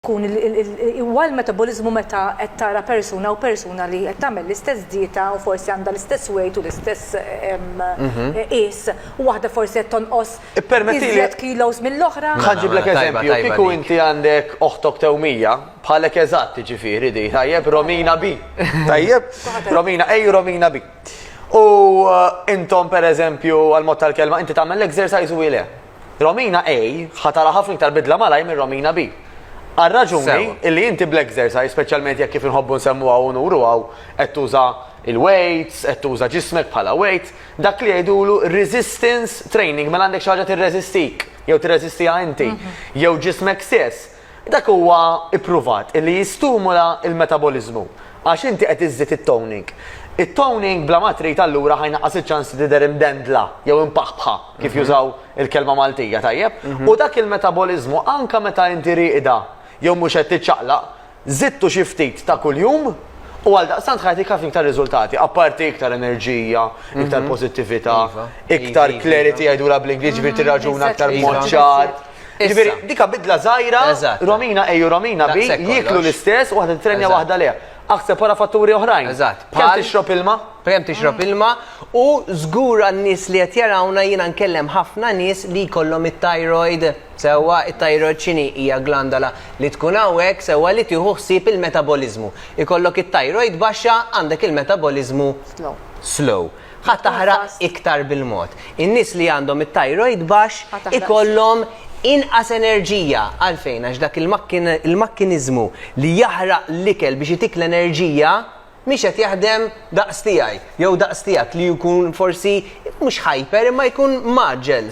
Kun huwa l-metaboliżmu meta qed tara persuna u persuna li qed tagħmel l-istess dieta u forsi għandha l-istess weight u l-istess qies u waħda forsi qed tonqos iżjed kilos mill-oħra. Ħa nġiblek eżempju, kieku inti għandek oħtok tewmija, bħalek eżatt jiġifieri di, tajjeb, Romina B. Tajjeb? Romina A u Romina B. U intom pereżempju għall-mod tal-kelma inti tagħmel l-exercise u hi le. Romina A ħa tara ħafna iktar bidla malajr minn Romina B. Għal raġuni Sewa. illi inti bl-exercise, speċjalment jekk kif inħobbu nsemmuha u nuru hawn, qed tuża il-weights, qed tuża ġismek bħala weight, dak li jgħidulu resistance training, mela għandek xi ħaġa tirreżistik, jew tirreżistiha inti, jew ġismek stess. Dak huwa ippruvat illi jistumula l-metaboliżmu għax inti qed iżżid it-toning. It-toning bla ma trid allura ħa jnaqqas iċ-ċans li tidher imdendla jew impaħbħa kif jużaw il-kelma Maltija, tajjeb? U dak il-metaboliżmu anke meta inti rieqda jew mhux qed tiċċaqlaq, żidtu xi ftit ta' kuljum u għaldaqstant ħa jagħtik ħafna iktar riżultati, apparti iktar enerġija, iktar pożittività, iktar clarity jgħidulha bl-Ingliż, jiġifieri tirraġuna aktar b'mod ċar. Ġifieri dika bidla żgħira, Romina ejju Romina bi, jieklu l-istess, waħda titrenja waħda le. Aħseb wara fatturi oħrajn. Eżatt. Kemm tixrob ilma? Kemm tixrob ilma u żgur għan-nies li qed jarawna jiena nkellem ħafna nies li jkollhom it-thyroid sewwa, it-thyroid x'inhi? Hija glandola li tkun hawnhekk sewwa li tieħu ħsieb il-metaboliżmu. Ikollok it-thyroid baxxa għandek il-metaboliżmu slow. Ħa taħraq iktar bil-mod. In-nies li għandhom it-tajrojd baxx ikollhom inqas enerġija. Għalfejn? Għax dak il-makkiniżmu li jaħraq l-ikel biex itik l-enerġija mhix qed jaħdem daqs tiegħi jew daqs tiegħek li jkun forsi mhux hyper imma jkun mgħaġġel.